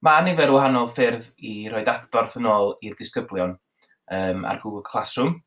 Mae nifer o wahanol ffyrdd i roed adborth yn ôl i'r disgyblion um, ar Google Classroom.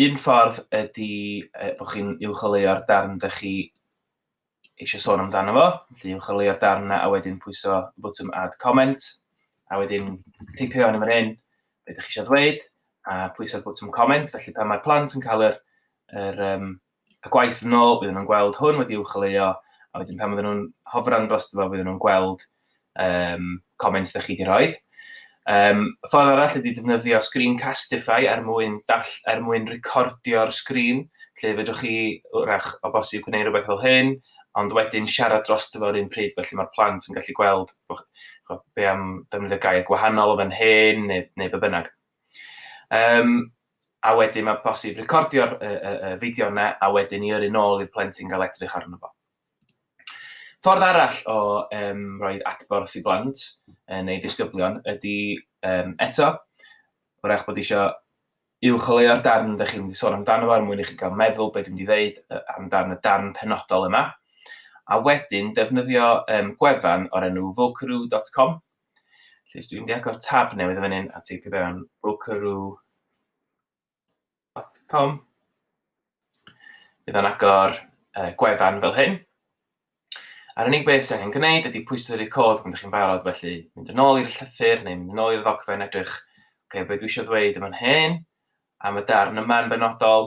Un ffordd ydy uh, bod chi'n uwcholeuo'r darn ydych chi eisiau sôn amdano fo, felly uwcholeuo'r darn yna a wedyn pwyso y bwtwm add comment, a wedyn teipio yn ymwneud hyn, beth ydych chi eisiau ddweud, a pwyso'r bwtwm comment, felly pan mae'r plant yn cael yr, yr um, y gwaith yn ôl, oedden nhw'n gweld hwn wedi uwcholeuo, a wedyn pan oedden nhw'n hofran dros fo, oedden nhw'n gweld um, comments da chi wedi rhoi. Um, ffordd arall ydy defnyddio Screencastify er mwyn, dall, er mwyn recordio'r sgrin, lle fedrwch chi wrach o bosib gwneud rhywbeth fel hyn, ond wedyn siarad dros dyfo'r un pryd, felly mae'r plant yn gallu gweld be am defnyddio gair gwahanol o fan hyn, neu, neu be bynnag. Um, a wedyn mae'n bosib recordio'r y, y, y fideo yna a wedyn i yrru nôl i'r plentyn gael edrych arno fo. Ffordd arall o um, roed adborth i blant uh, neu disgyblion ydy um, eto, wrach bod eisiau uwcholeuo'r darn ydych chi'n mynd i sôn amdano fo er mwyn i chi gael meddwl beth dwi'n mynd i ddeud uh, amdano y darn penodol yma. A wedyn, defnyddio um, gwefan o'r enw vocroo.com, Felly, os dwi'n mynd i agor tab newydd o fan hyn a teipio fewn brokeroo.com, bydd o'n agor uh, gwefan fel hyn. A'r unig beth sy'n angen gwneud ydy pwysau record pan ydych chi'n barod, felly mynd yn ôl i'r llythyr neu mynd yn ôl i'r ddogfen edrych, okay, beth dwi eisiau ddweud yma'n hyn, am y darn yma'n benodol,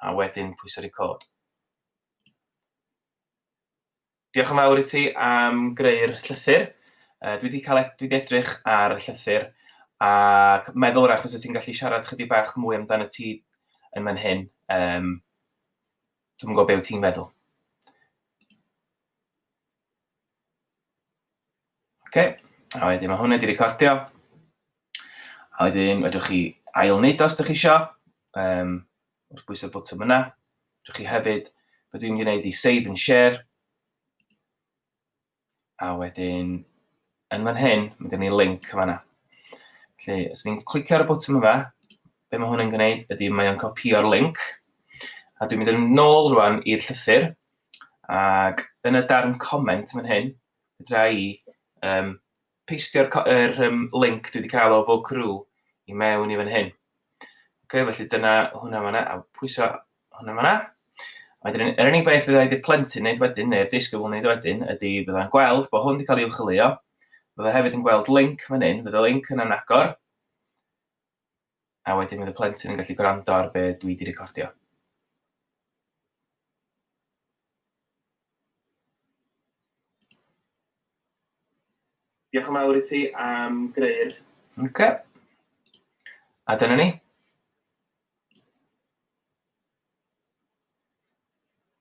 a wedyn pwysau record. Diolch yn fawr i ti am greu'r llythyr. Uh, dwi wedi cael e- dwi wedi edrych ar y llythyr ac meddwl rach os ti'n gallu siarad chydig bach mwy amdano ti yn fan hyn. Um, dwi'n gwybod beth ti'n feddwl. Ok, a wedyn mae hwn wedi recordio. A wedyn fedrwch chi ail wneud os ydych chi eisiau, um, wrth bwysau'r bwtwm yna. Fedrwch chi hefyd, beth dwi'n mynd i wneud i save and share. A wedyn, yn fan hyn, mae gen i link yma yna. Felly, os ni'n clicio ar y bwtwm yma, be mae hwn yn gwneud ydy mae o'n copio'r link. A dwi'n mynd yn ôl rwan i'r llythyr, ac yn y darn comment fan hyn, Fedra i um, peistio'r er, um, link dwi wedi cael o fo crew i mewn i fan hyn. Ok, felly dyna hwnna fanna, a pwyso hwnna fanna. Wedyn, yr er unig beth fydda i wedi plentyn wneud wedyn, neu'r ddisgybl wneud wedyn, ydy bydda'n gweld bod hwn wedi cael ei uwcholeuo. Fydda hefyd yn gweld link fan hyn, fydda link yn anagor. a wedyn fydd y plentyn yn gallu gwrando ar be dwi wedi recordio. Diolch yn fawr i ti am greu'r... Ok. A dyna ni.